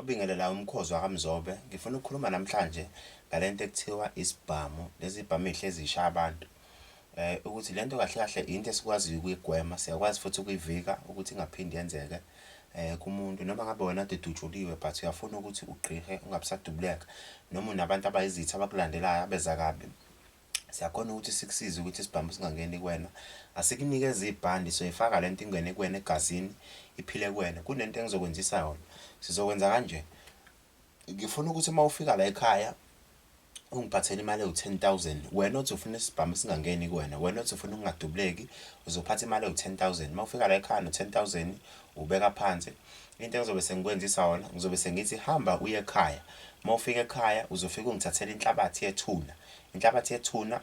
Obingelela umkhozi wakaMzobe, ngifuna ukukhuluma namhlanje ngalento ekuthiwa isibhamu, lezi zibhamu ezihlezi zishaya abantu. Ukuthi lento kahle kahle into esikwaziyo ukuyigwema, siyakwazi futhi ukuyivika ukuthi ingaphindi yenzeke kumuntu. Noma ngabe wena kade udutshuliwe but uyafuna ukuthi ugqirhe ungabisadubuleka. Noma unabantu abayizitha abakulandelayo abeza kabi. siyakhona ukuthi sikusize ukuthi isibhamu singangeni kuwena asikunikeze ibhandi soyifaka lento ingene kuwena egazini iphile kuwena kunento engizokwenzisa yona sizokwenza kanje ngifuna ukuthi uma ufika la ekhaya ungiphathele imali ewu-10000 wena othi ufuna isibhamu singangeni kuwena wena othi ufuna ukungadubuleki uzophatha imali ewu-10000 uma ufika la ekhaya no-10000 ubeka phansi into engizobe sengikwenzisa yona ngizobe sengithi hamba uye ekhaya uma ufika ekhaya uzofika ungithathela inhlabathi yethuna Inhlabathi yethuna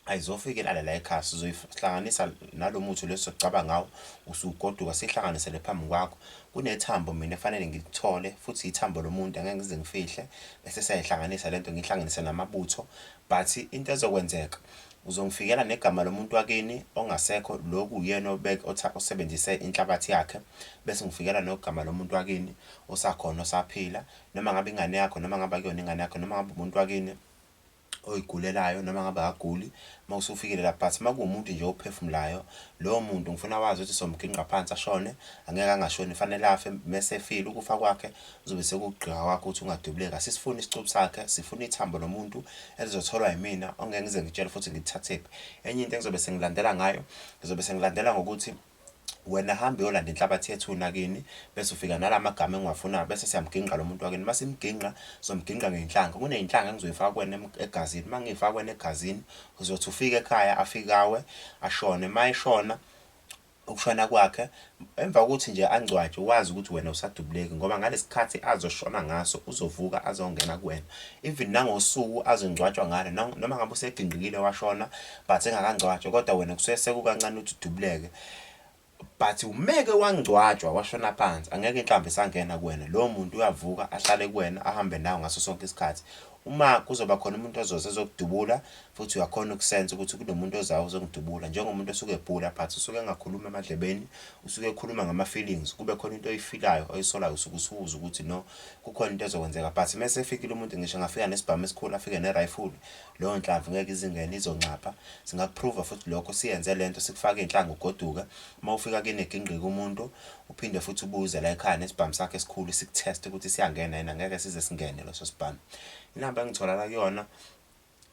ayizofikelala la ekhaya sizoyihlanganisa nalo muthi lo esizocaba ngawo usugoduka sihlanganisele phambi kwakho kunethambo mina efanele ngilithole futhi ithambo lomuntu angeke ngize ngifihle bese siyayihlanganisa lento ngihlanganise namabutho but into ezokwenzeka uzongifikela negama lomuntu wakini ongasekho loku uyena obeke osebenzise inhlabathi yakhe bese ngifikela nogama lomuntu wakini osakhona osaphila noma ngabe ingane yakho noma ngabe kuyona ingane yakho noma ngabe umuntu wakini oyigulelayo noma ngabe akaguli uma usufikile la but uma kuwumuntu nje ophefumulayo lowo muntu ngifuna wazi ukuthi somgingqa phansi ashone angeke angashoni fanele afe mese efile ukufa kwakhe kuzobe sekugqika kwakho ukuthi ungadubuleka sisifuna isicubu sakhe sifuna ithambo lomuntu elizotholwa yimina ongeke ngize ngitshele futhi ngithathephi enye into engizobe sengilandela ngayo ngizobe sengilandela ngokuthi Wena hamba uyolanda inhlabathi yethuna kini bese ufika nala magama engiwafunayo bese siyamgingqa lo muntu wakini. Uma simgingqa sizomgingqa ngey'nhlanga. Kuney'nhlanga engizoy'faka kuwena egazini. Uma ngiy'faka kuwena egazini uzothi ufike ekhaya afike awe ashone. Uma eshona ukushona kwakhe emva kokuthi nje angcwatshwe wazi ukuthi wena usadubuleki ngoba ngalesi khathi azoshona ngaso uzovuka azongena kuwena even nangosuku azongcwatshwa ngalo noma ngabe usegingqikile washona but engakangcwatshwa kodwa wena kusuke sekukancane ukuthi udubuleke but umeke wangcwatshwa washona phansi angeke inhlamba isangena kuwena lowo muntu uyavuka ahlale kuwena ahambe nawe ngaso sonke isikhathi uma kuzoba khona umuntu ozoze ezokudubula futhi uyakhona ukusensa ukuthi kunomuntu ozayo ozongidubula njengomuntu osuke ebhula but usuke engakhulumi emadlebeni usuke ekhuluma ngama-feelings kube khona into oyifilayo oyisolayo usuke usuwuza ukuthi no kukhona into ezokwenzeka but uma sefikile umuntu ngisho ngafika nesibhamu esikhulu afike ne-rifle Leyo nhlamvu ngeke izingene izoncapha singakuprova futhi lokho siyenze lento sikufake inhlanga ugoduke uma ufika kini egingqika umuntu uphinde futhi ubuze la ekhaya nesibhamu sakhe esikhulu sikutest ukuthi siyangena yena ngeke size singene leso sibhamu inamba engitholaka kuyona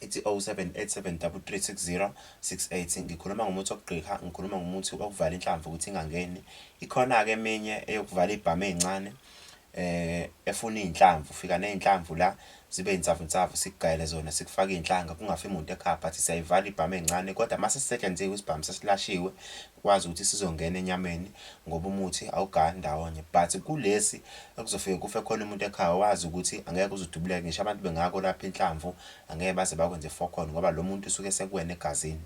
ithi 0787336068 ngikhuluma ngomuthi wokugqika ngikhuluma ngomuthi wokuvala inhlamvu ukuthi ingangeni ikhona ke eminye eyokuvala ibhamu ezincane Eh efuna izinhlamvu fika nezinhlamvu la zibe insavunsavu sikugayele zona sikufaka izinhlanga kungafi muntu ekhaya but siyayivala ibhamu ezincane kodwa mase sisetshenziwe isibhamu sesilashiwe kwazi ukuthi sizongena enyameni ngoba umuthi awugaya ndawonye but kulesi ekuzofike kufe khona umuntu ekhaya wazi ukuthi angeke uzudubuleke ngisho abantu bengako lapha inhlamvu angeke baze bakwenze fokhona ngoba lo muntu usuke sekuwena egazini